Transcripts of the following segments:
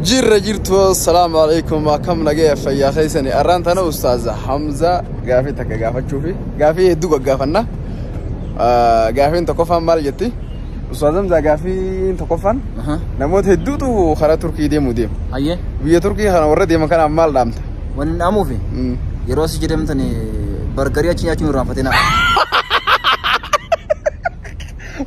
Jirra jirtu salaamu alaikum akkam nagaya fayyaa keessani arraan tana ustaaza Hamza gaafii takka gaafachuu fi gaafii hedduu gaggaafanna Ah, gaafiin tokkoffaan maal jetti ustaaza Hamza gaafiin tokkoffaan Aha. namoota hedduutu karaa Turkii deemu deemu Hayyee biyya Turkii kana warra deeman kanaan maal dhaamta wanni dhaamuufi Mm. yeroo si jedhamtani bargarii achi nyaachuun irraanfatina.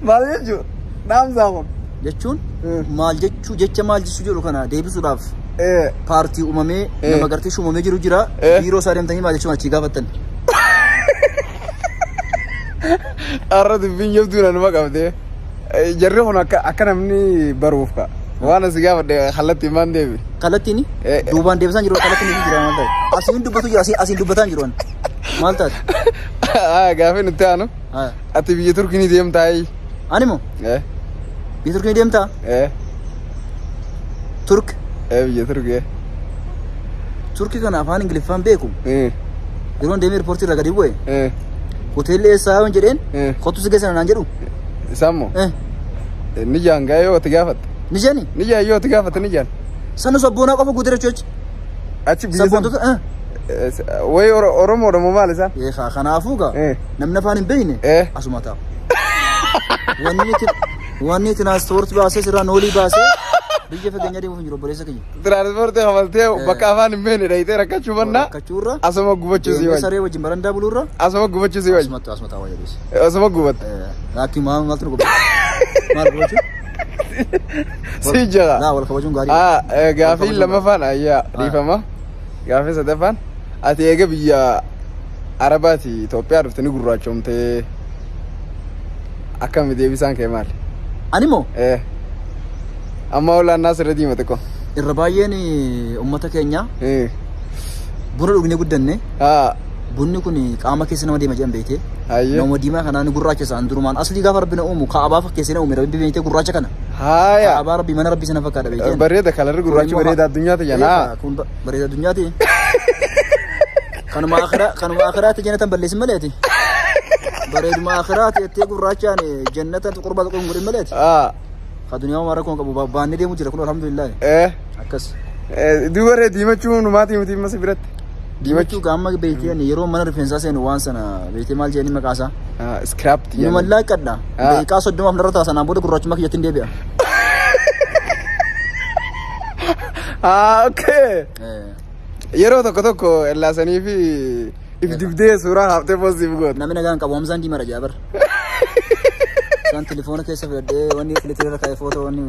Maal jechuudha? Dhaamsaa kun. jechuun Eh. maal jechuu jecha maal jechuu jedhu kana deebisuudhaaf Eh. paartii uumamee Eh. nama gartee shuumamee jiru jira Eh. biiroo isaa deemtanii maal jechuun achii gaafattan Har'a dubbiin jabduun anuma qabdee. Eh, Jarri kun akka akka namni baruuf ka. Waan asi gaafadhe kallattiin maan deebi. kallattiin Eh, eh. duubaan deebisaan jiru kallattiin hin jiran maal ta'e asiin dubbatu jira asiin asiin dubbataan jiru an. maal taate Haa gaafii nutti aanu. Haa. Ati biyya Turkii ni deemtaa? Ani moo? Eh, Biyya Turkii ni deemtaa? eh, Turk. eh, biyya Turkii. eh. Turkii kana afaan Ingiliffaan beeku. Eh, Yeroo deemee riippoortii irraa gadi bu'e. eh, Hoteelli eessaa yoon jedheen. eh. Kottu si geessan naan jedhu. Isaan moo? Eh, Eh, Ni jaan gaa yoo itti gaafatte. Ni jedhani. Ni jaan yoo itti gaafatte ni jaan. Sanu sabboonaa qofa guutee jechuu jechi. Achi biyya sana. Sabboontota. eh. Eh, Wayi Oro- Oromoodha moo maal isaan? Eh, kaa- Kanaafuu gaa. Eh. namni afaan hin beekne Eh. asuma taa'u. Wanni itti wanni itti naaspoortii baasee sirraa noolii baasee biyya fageenya deemuuf hin jiru obboleessa kiyya. Tiraansipoortii kamaltee bakka afaan hin beekne dhayitee rakkachuu mannaa Rakkachuurra asuma gubachuu sii deemee wayya. saree wajjin barandaa buluurra Asuma gubachuu sii wayya. asuma taa'u asuma taa'u wayya deesse. Asuma gubatte. Laakiin maal maaltu nu gubate? Maal gubachuu? Sii jira. Laa wal kabajuun gaarii. Ah, eh, gaafii Wal kabajuun lammaffaan ayyaa Ah. dhiifama. Gaafii sadaffaan ati eega biyya Arabaati Itoophiyaa dhufte ni gurraachoomte akkami deebisaan kee maali? Ani moo Eh. Amma olaan naas irra diima xiqqoo. irra baay'een uummata keenya Eh. buna dhugnee guddanne Haa. bunni kun qaama keessa nama deema jedhan beekte. Hayyee. Nama diimaa kanaan gurraacha isaan durumaan aslii gaafa rabbi na uumu kaabaa fakkeessee na uume rabbi beektee gurraacha kana. Haaya. Kaabaa rabbi mana rabbi sana fakkaata beekte. Bareeda kalarri gurraachi bareeda addunyaa ta'e Eegaa, janaa. Kun ba- bareeda addunyaati. Kanuma akhiraa kanuma akhiraatti jannatan balleessin malee ati. Bareeduma akhiraatti jettee gurraachaan eh, jannata qurbaa tokko hin godhin malee ati. Ah. Ka duniyaa waan rakkoon qabu ba- baannee deemu jira kun alhamdulillah. Eh. Akkas. Eh, Duuba ree diimachuu numaatii miti masa biratti. Diimachuu gaamma beektee ani yeroo mana rifeensaa seenu waan sana beektee maal jedhanii maqaa isaa. Ah, scrap ti. Inuma laaqadha. Ah. Daqiiqaa soddomaaf narra ta'a sanaan booda gurraachummaa kiyyatti hin deebi'a. Ah, okay. Eh, Yeroo tokko tokko ellaasanii fi if dibdee suuraa haaftee poostii fi goota. Namni nagaan qabu Hamzaan diimaa dhajaa bar. Isaan telefoona keessa filadhee wanni filitee irra kaa'ee footoo wanni.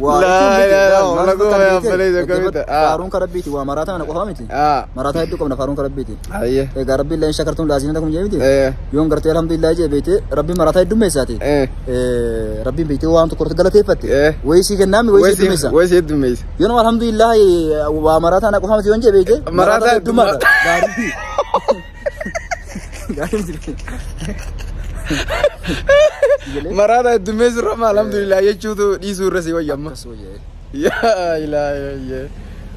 Waa Laa, ittiin bitte, yaa, yaa, waan maal lakkoo fakkaatu yaa, bitte. falee jaka Dhaggeeffadhu, bitte. Ah. Faaruun kan rabbiiti waa maraataa kana qofaa miti. Aa. Maraataa hedduu qabna faaruun kan rabbiiti. Ayyee. Egaa rabbiin illee shakartuun laasiinata kun jeemiti. Eh. Yoon gartee alhamdulillah jee beekte rabbiin maraataa heddummeessaati. Eh. Eh, Rabbiin beektee waan tokko irratti galateeffatte. Eh. Wayii sii kennaami wayii sii Wayii heddummeessa. si heddummeessa. Yoon alhamdulillah waa maraataa na qofaamti yoon jebeeyte. Maraataa heddummaadha. Gaarii. Gaarii jirti. Maraata heddummeessu irra amma alhamdulillah jechuutu dhiisuu irra si wayya amma. Akkas wayya. Yaa ilaahi.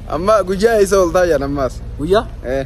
Amma guyyaa isa ol taayyan ammaas. Guyyaa? Eh.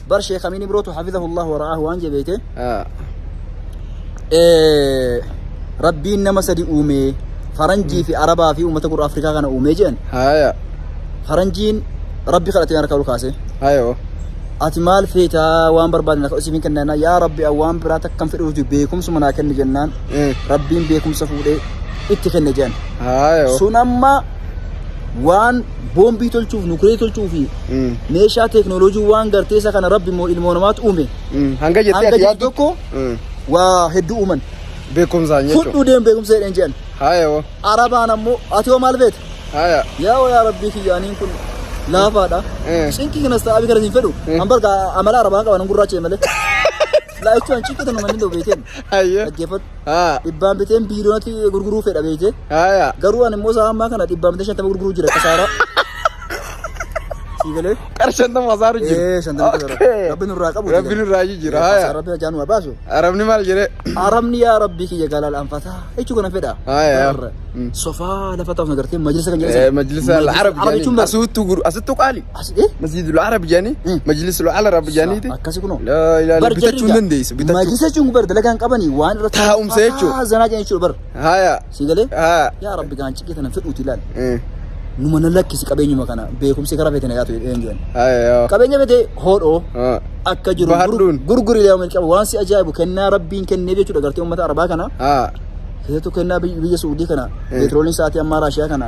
bar sheekh amiin ibrootu hafizahu allah wara'aahu waan jee beeyte Ah. Eh, rabbiin nama sadi uumee faranjii fi arabaa fi uummata gurra afrikaa kana uumee jedhan Haya. faranjiin rabbi kadhatee harka ol kaase Hayo. ati maal feetaa waan barbaadne akka isiif hin kennaa yaa rabbi an waan biraa takkan fedhuuti beekumsuma naa kenni jennaan Mm. rabbiin beekumsa fuudhee itti kenne jedhan Hayo. sun amma waan boombii tolchuuf nukilee tolchuu fi Mm. meeshaa teeknooloojii waan gartee isa kana rabbi immoo ilmoo namaatti uume Mm. Hanga jettee hanga ati jedhu yaaddu. tokko Mm. waa hedduu uuman Beekumsaan jechuudha. fudhuu deemu beekumsa jedheen jedhan Haaya hoo. arabaan ammoo ati hoo maal beekta Haaya. yaa hoo yaa rabbii kiyyaaniin kun laafaadha Eh. cinqii kanas ta'aa kanas hin fedhu an barga amala arabaa qaban an gurraacha malee laa'ichuu an cinqii tanu manni dawbeeteen Haaya. dhaggeeffadhu Haa. Dhibbaan biteen biiliyoonatti gurguruu fedha beekte. Haa. Garuu ani immoo isaa ammaa kana dhibbaan bitee shantama gurguruu jira kasaaraa. Sii galee? Qara shantama kasaaru jira. Ee shantama kasaaru. Okay. Rabbi nurraa qabu. Rabbi nurraa jijjiira, haa, yaa. Rabbi ajaan waa baasu. Arabni maal jedhee? Arabni yaa rabbi kiyya galal anfataa. Jechuu kana fedha. Haa, yaa. Barra. Mm. Sofaa lafa taa'u nagartee majlisa kan jedhamu. Majlisa Arab Arab jechuun jedhanii. bara. Asuttu guru asuttu qaali. Asi eh Masjidul Arab jedhanii Majlisul Arab jedhaniiti. akkasi kunoo. Laa ilaaha Bar bitachuu hin jarri dandeessu. Bitachuu. Majlisa jechuun bar dalagaan qabanii waan irratti Taa'umsa jechuudha. Ah, zanaa jedhan jechuudha bar. Haya. Si galee? Haya. Yaa Rabbi gaan ciqii tana fedhuuti ilaali. Eh, Numa na lakkisi qabeenyuma kana beekumsi karaa feetana yaatu jedheen jedhan. Haya yoo. Qabeenya fete hoodhoo Ah. akka jiru Bahadhuun. gurguri ilaalu qaba waan si ajaa'ibu kennaa Rabbiin kennee jechuudha gartee uummata Arabaa kana Ah. keessattuu kennaa biyya biyya Suudii kana Eh. peetrooliin sa'aatii ammaa Raashiyaa kana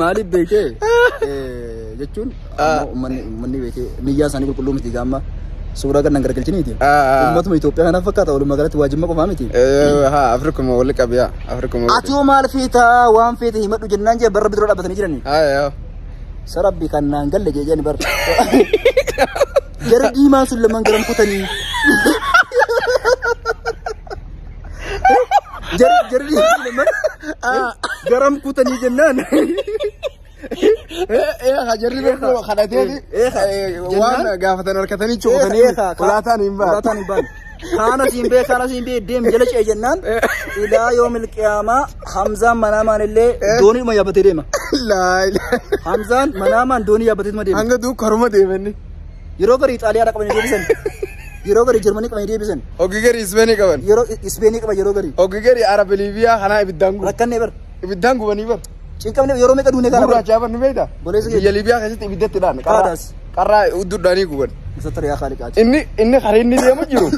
Maaliif beekee jechuun ammoo uummanni uummanni beekee niyyaa isaanii qulqulluu miti gaamma suuraa kan nan gargalchiniiti. Uummatuma Itoophiyaa kanaaf fakkaata walumaa galatti waa jimma qofaa miti. Haa Afrikuma wali qabiyaa Afrikuma. Ati hoo maal feetaa waan feete himadhu jennaan jee barra bidura dhaabbatanii jiranii. Haa Sarabbi kan naan galle jee jeen bar. Gara diimaan sun lamaan garan kutanii. Jarri jarri lamman garam kutanii jennaan. Jarri tokko kadhateeti waan gaafatan harkatanii cufatanii ulaataan hin baane. Ulaataan hin baane. Kaana siin bee kaana siin bee deem jala ce'e jennaan ilaa yoo milqiyaamaa Hamzaan manaamaan illee doonii dhuma yaabbatee deema. Laa ilaa. Hamzaan manaamaan doonii yaabbatee deema. Hanga duuka haruma deemanni. Yeroo garii Xaaliyaadhaa qabanii deebisan. Yeroo garii Jarmanii qabanii deebisan. Hoggi garii Ispeenii qaban. Yeroo Ispeenii qaban yeroo garii. Hoggi garii Arab Liibiyaa kanaa ibiddaan gubu. Rakkannee bar. Ibiddaan gubanii bar. Cinqamne yeroo meeqa duunee kana bar. Gurraachaa bar ni beekta. Boleessa keenya. Biyya Liibiyaa keessatti ibiddatti dhaan. Qaadaas. Qarraa uddudhaanii guban. Musatar yaa kaali qaati. Inni inni karaa inni deemu jiru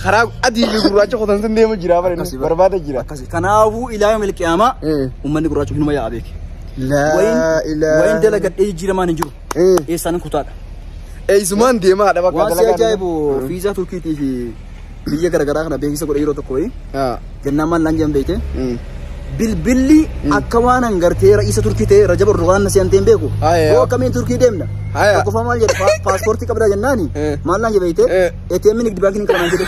karaa adii fi gurraacha qotan sun deemu jira bara inni barbaada jira. Akkasi. Kanaafuu ilaaha milqiyaamaa Eh. uummanni gurraacha hinuma yaa'a beeki. Laa Wayin dalagadhee jijjiiramaan hin jiru. eessaan kutaadha. Eessumaan deemaadha bakka Waan si dalagaa. ajaa'ibu viizaa Turkiitii fi biyya garaagaraa kana beeksisa godhe yeroo tokko wayii Haa. jennaan maal naan jedhan beekte Mm. bilbilli akka waan hangartee ra'iisa Turkii ta'e Rajab Erdogaan na seentee hin beeku. Ah, yeah. Yoo akkamiin Turkii deemna? Haya. Tokkoffaa maal jedhe Pa- paaspoortii qabdaa jennaani Eh. maal naan jedhe beekte Eh. ATM nigdi baankiin hin qaban jedhe.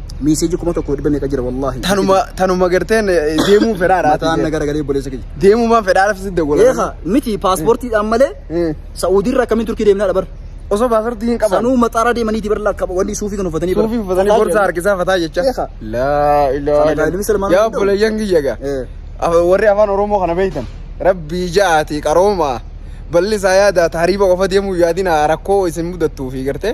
miiseeji kuma tokko dhibba meeqa jira wallaahi. Tanuma tanuma garteen deemuu fedhaadha. Mataan na garagalee obboleessa kiyya. Deemuu maan fedhaadha fi sidda gola. Eegaa miti paaspoortiidhaan malee Sa'uudiirra akkamiin turkii deemnaa dhabar. Osoo paaspoortii hin qaban. Sanuu maxaaraa deemaniiti bar lakka wanni suufii kan uffatanii bar. Suufii uffatanii borsa harkisaa fataa jecha. Eegaa. Laa ilaaha Sana ilmi Salmaan Yaa hunda'u. obboleeyyan kiyya gaa. Eh. Af- warri afaan oromoo kana beektan rabbii ja'aati qaroomaa balli isaa yaadaa taariiba qofa deemuu yaadina rakkoo isin mudattuu fi gartee